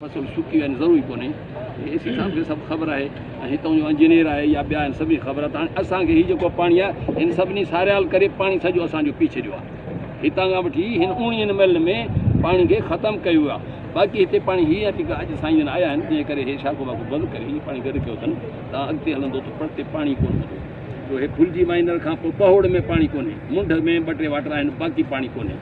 مسئلو شڪي يعني ضروري ڪونهي اي سي صاحب کي سڀ خبر آهي ۽ هتان جو انجنيئر آهي يا ٻيا آهن سڀني خبر آهي ته هاڻي اسان کي هي جيڪو پاڻي آهي هن سڀني ساريال ڪري پاڻي سڄو اسان جو پي ڇڏيو آهي هتان کان وٺي هن اوڻيهن ميلن ۾ پاڻي کي ختم ڪيو ويو آهي باقي هتي پاڻي هي آهي جيڪا اڄ سائين جن آيا آهن جنهن ڪري هي شاخو واخو بند ڪري هي پاڻي گڏ ڪيو اٿن تان اڳتي هلندو ته پرتي پاڻي ڪون هوندو جو هي ڦلجي مائنر کان پوء پهوڙ ۾ پاڻي ڪونهي منڍ ۾ ٻه ٽي واٽر آهن باقي پاڻي ڪونهي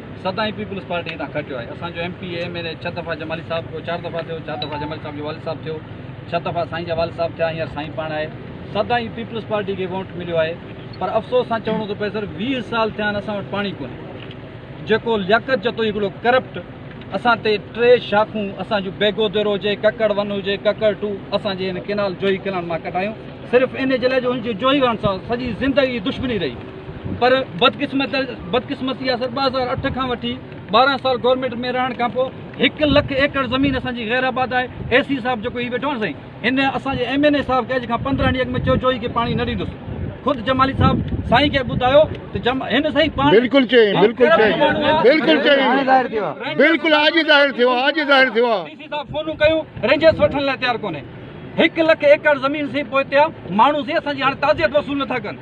سدائين پيپلز پارٽي هتان کٽيو آهي اسان جو M P M N A ڇهه دفعا جمالي صاحب ٿيو چار دفعا ٿيو چار دفعا جمالي صاحب جو والد صاحب ٿيو ڇهه دفعا سائين جا والد صاحب ٿيا هينئر سائين پاڻ آهي سدائين پيپلز پارٽي کي ووٽ مليو آهي پر افسوس سان چوڻو ٿو پئي سر ويهه سال ٿيا آهن اسان وٽ پاڻي ڪونهي جيڪو لياقت جتو هڪڙو ڪرپٽ اسان تي ٽي شاخون اسان جون بيگودر هجي ڪڪڙ ون هجي ڪڪڙ ٽو اسان جي هن ڪينال جوهي ڪينال مان ڪڍايون صرف ان جي لاء جو هن جي جوهي وارن سان سڄي زندگي دشمني رهي پر بدقسمتي آسر ٻه هزار اٺ کان وٺي ٻارهن سال گورنمينٽ ۾ رهڻ کان پوء هڪ لک ايڪڙ زمين اسان جي غير آباد آهي اي سي صاحب جيڪو هي ويٺو آهي سائين هن اسان جي ايم اين اي صاحب کي اڄ کان پندرهن ڏينهن اڳ ۾ چيو جوئي کي پاڻي نه ڏيندس خود جمالي صاحب سائين کي ٻڌايو ته جم هن سائين پاڻي بالکل چئي بالکل چئي بالکل چئي بالکل اڄ ظاهر ٿيو اڄ ظاهر ٿيو ڊي سي صاحب فونون ڪيو رينجرز وٺڻ لاء تيار ڪونهي هڪ لک ايڪڙ زمين سي پوئتيا ماڻهو سي اسان جي هاڻي تعزيت وصول نٿا ڪن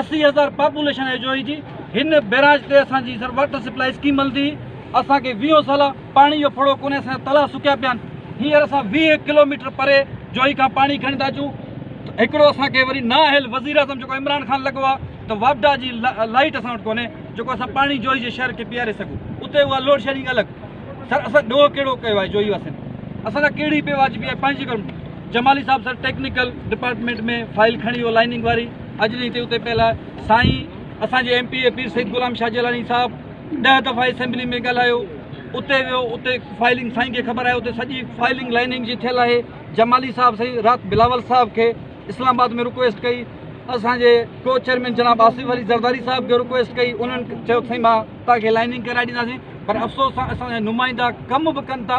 اسي هزار پاپوليشن اي جوئي جي هن بيراج تي اسان جي سر واٽر سپلائي اسڪيم هلندي هئي اسان کي ويهون سال پاڻي جو ڦڙو ڪونهي اسان جا تلاء سڪيا پيا آهن هينئر اسان ويهه ڪلوميٽر پري جوئي کان پاڻي کڻي ٿا اچون هڪڙو اسان کي وري نااهل وزير اعظم جيڪو عمران خان لڳو آهي ته واپڊا جي لائيٽ اسان وٽ ڪونهي جيڪو اسان پاڻي جوئي جي شهر کي پياري سگهون اتي اها لوڊ شيڊنگ الڳ سر اسان ڏوهه کيڙو ڪيو آهي جوئي واسين اسان لاء ڪهڙي بي واجبي آهي پنهنجي جمالي صاحب سر ٽيڪنيڪل ڊپارٽمنٽ ۾ فائل کڻي ويو لائننگ واري اڄ جي اتي پيل سائين اسان جي M P A Pir Syed Ghulam Shah Jilani صاحب ڏهه دفعا اسيمبلي ۾ ڳالهايو اتي ويو اتي فائلنگ سائين کي خبر آهي اتي سڄي فائلنگ لائننگ جي ٿيل آهي جمالي صاحب سائين رات بلاول صاحب کي اسلام آباد ۾ رڪويسٽ ڪئي اسان جي ڪو چيئرمين جناب آصف علي زرداري صاحب کي رڪويسٽ ڪئي انهن چيو سائين مان تان کي لائننگ ڪرائي ڏينداسين پر افسوس سان اسان جا نمائندا ڪم به ڪن ٿا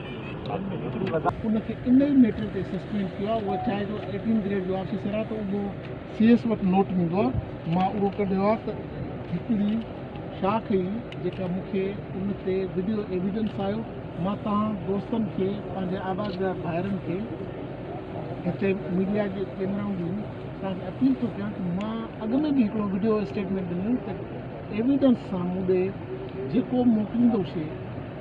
ان کي ان ئي ميٽر تي سسپينڊ ڪيو آهي اهو چاهي جو ايٽين گريڊ جو آفيسر آهي ته اهو سي ايس وٽ نوٽ ويندو آهي مان اهو ڪڍيو آهي ته هڪڙي شاخ هئي جيڪا مون کي ان تي وڊيو ايويڊنس آيو مان توهان دوستن کي پنهنجي آوازدار ڀائرن کي هتي ميڊيا جي ڪيمرائون به آهن توهان کي اپيل ٿو ڪيان ته مان اڳ ۾ به هڪڙو وڊيو اسٽيٽمينٽ ڏنو ته ايويڊنس سان مون ڏي جيڪو موڪليندو شي